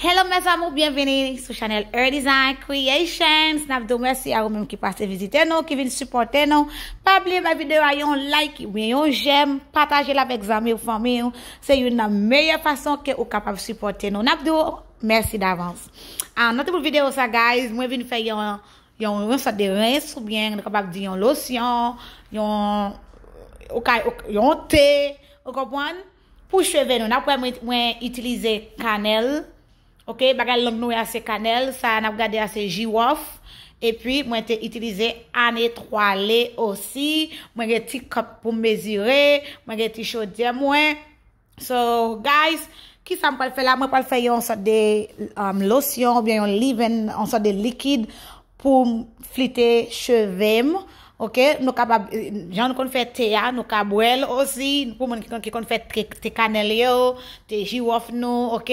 Hello mes amour byenvini sou chanel Erdesign creations nap diw mèsi a ou menm ki pase vizite nou ki vin sipòte nou pa bliye bay videyo a yon like oubyen yon jèm patajel avèk zanmiw fanmiw se youn nan meyè fason ke ou kapab sipòte nou nap diw Merci d'avance. Ah, nan tout bout vidéo sa guys, mwen vin fè yon yon yon sort de rince ou bien nou kapab di yon lotion, yon ou ka yon thé, ou konprann? Pou cheve nou, n'a wè mwen mwen utiliser cannelle. Ok, bagay lang nou ya se cannelle, sa n'a gade ya se jirof. E pi mwen te itilize an etwale osi, mwen gen ti kòp pou m mezire, mwen gen ti chodyè mwen. So guys, kisa m pral fè la? Mwen pral fè yon sòt de um, losyon oubyen yon liven, yon sòt de likid pou m flite cheve m. Ok, nou kapab, jan nou konn fè te a, nou ka bwè l osi, pou moun ki konn fè te kanèl yo, te jiwòf nou, ok?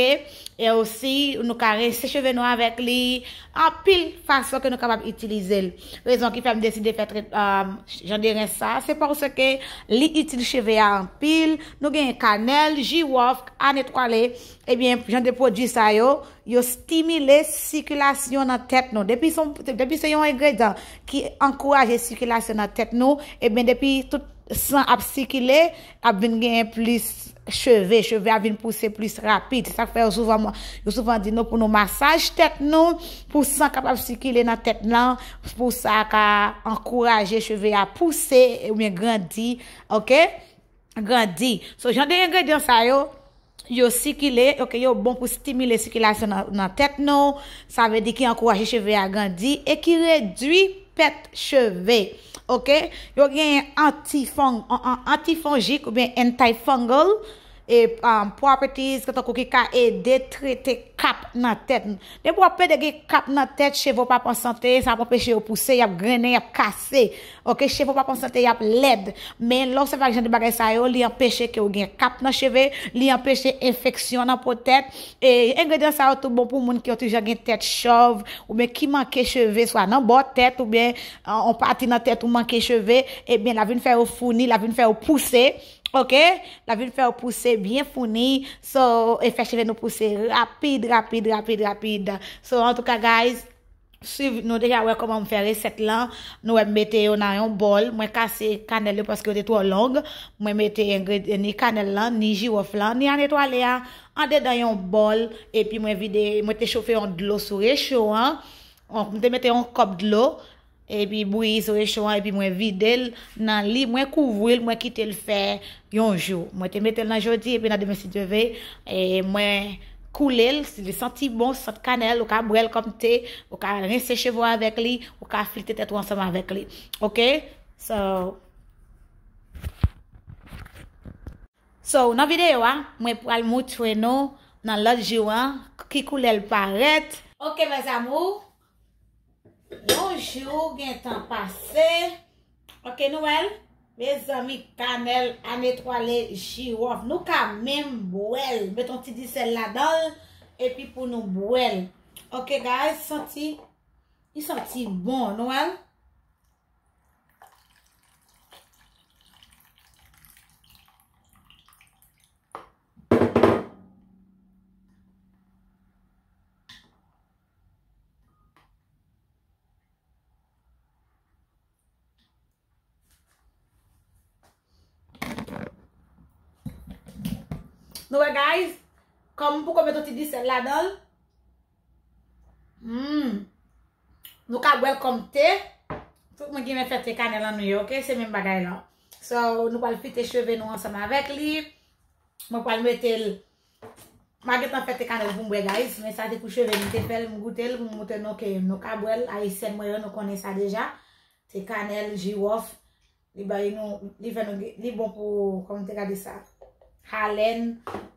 E osi, nou ka rense cheve nou avèk li, anpil fason ke nou kapab itilize l. Rezon ki fè m deside fè tretman jan de rens sa a, se paske li itil cheve a anpil. Nou genyen kanèl, jiwòf, kann etwale. Ebyen, jan de pwodui sa yo, yo stimile sikilasyon nan tèt nou. Depi se yon engredan ki ankouraje sikilasyon nan tèt nou, ebyen depi tout san ap sikile, ap vin genyen plis cheve, cheve a vin pouse plis rapid, se sak fè yo souvan yo souvan di nou pou nou masaj tèt nou pou san kapab sikile nan tèt nan pou sa ka ankouraje cheve a pouse oubyen grandi ok grandi so jan de engredyan sa yo Yo sikile, ok, yo bon pou stimile sikilasyon nan tèt nou, sa vle di ki ankouraje cheve a grandi e ki redwi pèt cheve. Ok, yo genyen antifonjik oubyen antifungal e properties ki tankou ki ka ede trete kap nan tèt nou. Depi wap plede gen kap nan tèt, cheve w pap an sante, sa ap anpeche yo pouse, yap grennen, yap kase. Ok cheve w pa p an sante yap lèd men lè w sèvi ak jan de bagay sa yo li anpeche ke w gen kap nan cheve li anpeche enfeksyon nan po tèt e engredyan sa yo tou bon pou moun ki yon ti jan gen tèt chòv oubyen ki manke cheve swa nan bò tèt oubyen yon pati nan tèt ou manke cheve ebyen lap vin fè yo founi lap vin fè yo pouse ok lap vin fè yo pouse byen founi so e fè cheve nou pouse rapid rapid rapid rapid so antouka guys. Swiv nou deja wè kòman m fè resèt lan nou wè m mete yo nan yon bòl mwen kase kanèl yo paske yo te twò long mwen mete engredyan ni kanèl lan ni jiwòf lan ni ane twale a andedan yon bòl epi mwen vide mwen te chofe yon dlo sou recho an m te mete yon kòp dlo epi bouyi sou recho an epi mwen vide l nan li mwen kouvri l mwen kite l fè Yon jou. Mwen te mete l nan jodi epi nan demen si Dye ve, mwen koule l, si li santi bon, sant kanèl, ou ka bwè l kòm te, ou ka rense cheve w avèk li, ou ka flite tèt ou ansanm avèk li. Ok? So. So, nan videyo a, mwen pral moutre nou nan lòt jou an ki koulè l parèt. Ok mes amours, Yon jou gentan pase. Ok nou wèl. Mezanmi kanèl an etwale jiwòf. Nou ka menm bwèl. Met yon ti di sèl la danl. Epi pou nou bwèl. Ok guys. Santi. Li santi bon. Nou wèl. Nou wè guys, kòm pou kòm meton ti disèl la danl, hmm, nou ka bwèl kòm te, tout mwen gen men fè te kanèl an nou yo, ok, se men bagay lan. So, nou pal fite cheve nou ansanm avèk li, mwen pal metel. Mpa gentan pete kanèl poum bwè guys men sa te pou cheve m te fèl m goutel m montre nou ke nou ka bwèl ayisyèn mwen yo nou konnen sa deja se kanèl jiwòf li bay nou li fè nou gen li bon pou kòman te ka di sa halèn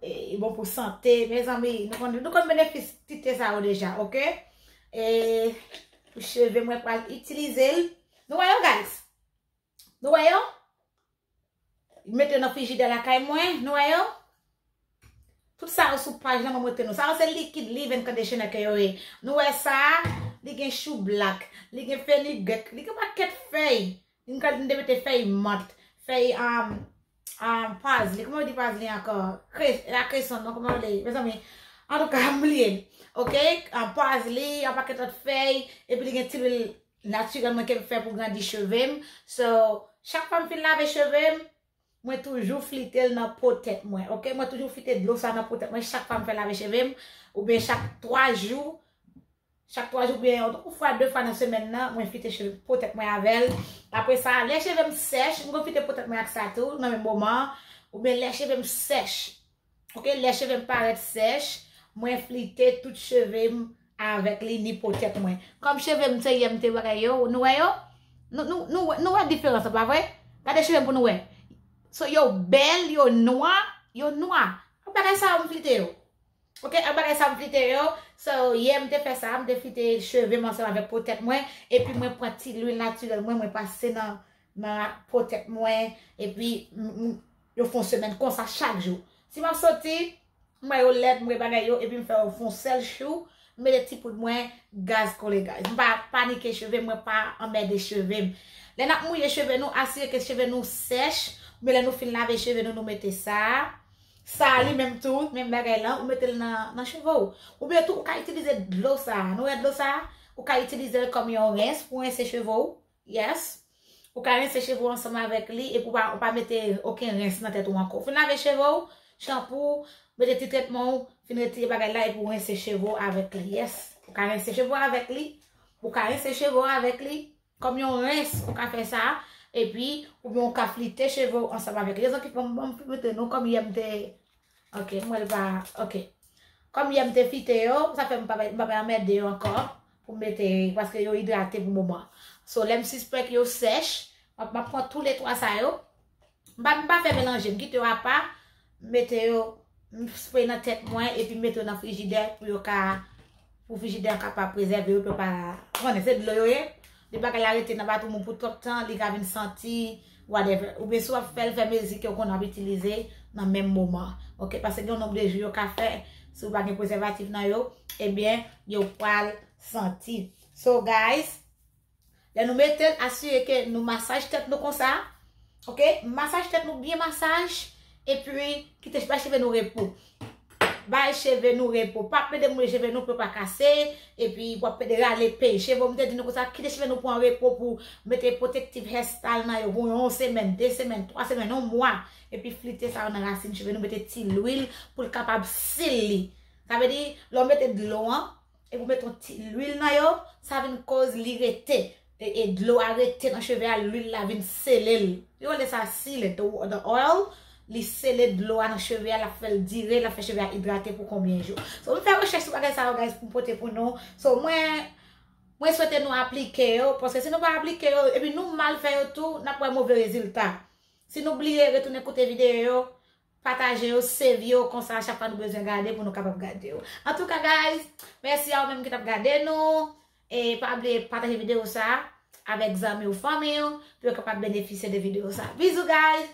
li bon pou sante mezanmi nou konnen nou konnen benefis ti te sa yo deja ok e pou cheve mwen pral itilizel nou wè yo guys. Nou wè yo? M mete yo nan frijidè lakay mwen. Nou wè yo? Tout sa yo sou paj la mwen mete nou. Sa yo se likid live and conditioner ke yo ye. Nou wè sa a? Li gen chou black. Li gen fenugreek. Li gen yon pakèt fèy. M ka m te mete fèy mant. Fèy um, um, pazli. Kouman yo di pazli ankò? Kre, e pa kreson non. Kouman yo rele li? Mezanmi. Antouka, m bliye. Ok? Pazli, yon pakèt lòt fèy. Epi li gen ti lwil Naturel mwen kem fè pou grandi chevem so chak fwam fin lave chevem mwen toujou flitel nan po tèt mwen ok mwen toujou flite dlo sa nan po tèt mwen chak fwam fè lave chevem oubyen chak 3 jou chak 3 jou oubyen yon fwa 2 fwa nan semèn nan mwen flite cheve po tèt mwen avèl apre sa lè chevem sèch mwen flite po tèt mwen ak sa tou nan menm moman oubyen lè chevem sèch Ok lè chevem parèt sèch mwen flite tout chevem avèk li ni po tèt mwen kòm chevem se yèm te bagay yo nou wè yo nou wè diferans la pa vre gade chevem pou nou wè so yo bèl yo nwa yo nwa ak bagay sa yo m flite yo ok ak bagay sa yo m flite yo so yè m te fè sa m te flite chevem ansanm avèk po tèt mwen epi mwen pran ti lwil natirèl mwen mwen pase nan Mwen ap po tèt mwen, epi yo fon semèn konsa chak jou. Si map soti, m ba yo lèt, m re bagay yo, epi m fè yo fon sèl chou, m mete ti poud mwen, gaz kole gaz. M pa panike cheve m, mwen pa anmède cheve m. Lè nap mouye cheve nou, asire ke cheve nou sèch, oubyen lè nou fin lave cheve nou, nou mete sa. Sa a li menm tou, menm bagay lan, ou mete l nan cheve ou. Oubyen tou, ou ka itilize dlo sa a. Nou wè dlo sa a? Ou ka itilize l kòm yon rens pou rense cheve ou. Yes Ou ka rense cheve ou ansanm avèk li epi ou pa mete oken rens nan tèt ou ankò. Ou fin lave cheve ou, chanpou ou, mete ti tretman ou, fin retire bagay la epi ou rense cheve ou avèk li. Yes Ou ka rense cheve ou avèk li Ou ka rense cheve ou avèk li Kòm yon rens ou ka fè sa epi oubyen ou ka flite cheve ou ansanm avèk li. Lèzan ki fèm banm mete nou kòm yè m te Ok m wèl pa ok. Kòm yè m te fite yo sa fè m pa m pa bay anmède yo ankò pou m mete paske yo idrate pou moman an. So lè m sispèk yo sèch m ap m ap pran tou le 3 sa yo m pa m pa fè melanje m kite yo apa m mete yo m spre nan tèt mwen epi m mete yo nan frijidè pou yo ka Pou frijidè an kapab prezève yo, pou pa, ou konnen se dlo yo ye, lè bagay la rete nan batouman pou twòp tan, li ka vin santi, whatever. Oubyen si w ap fè l, fè mezi ke ou konnen w ap itilize nan menm moman. Ok, paske gen yon nonb de jou yo ka fè, si ou pa gen prezèvatif nan yo, ebyen yo pral santi. So guys. Lè nou metel asire ke nou masaj tèt nou konsa ok masaj tèt nou byen masaj epi kite bay cheve nou repo bay cheve nou repo pa plede mouye cheve nou pou yo pa kase epi wap plede rale pey cheve ou m te di nou konsa kite cheve nou pran repo pou mete protective hair style nan yo pou yon semen de semen twa semen yon mwa epi flite sa yo nan rasin cheve nou mete ti lwil pou l kapab sili sa vle di lè w mete dlo an Epi ou met yon ti lwil nan yo, sa vin koz li rete, e dlo a rete nan cheve a, lwil la vin sele l. Yo rele sa seal it, the oil, li sele dlo a nan cheve a, lap fèl dire, lap fè cheve a idrate pou konbyen jou. So mwen fè rechèch sou bagay sa yo guys pou m pote pou nou. So mwen, mwen swete nou aplike yo, paske si nou pa aplike yo, epi nou mal fè yo tou, nap wè move rezilta. Si nou bliye, retounen koute videyo yo. Pataje yo, save yo, konsa a chak fwa nou bezwen gade pou nou kapab gade yo. Antouka guys, mèsi a ou menm ki tap gade nou, e pa bliye pataje video sa a avèk zanmi ou fanmi ou pou yo kapab benefisye de video sa a. Bizou guys!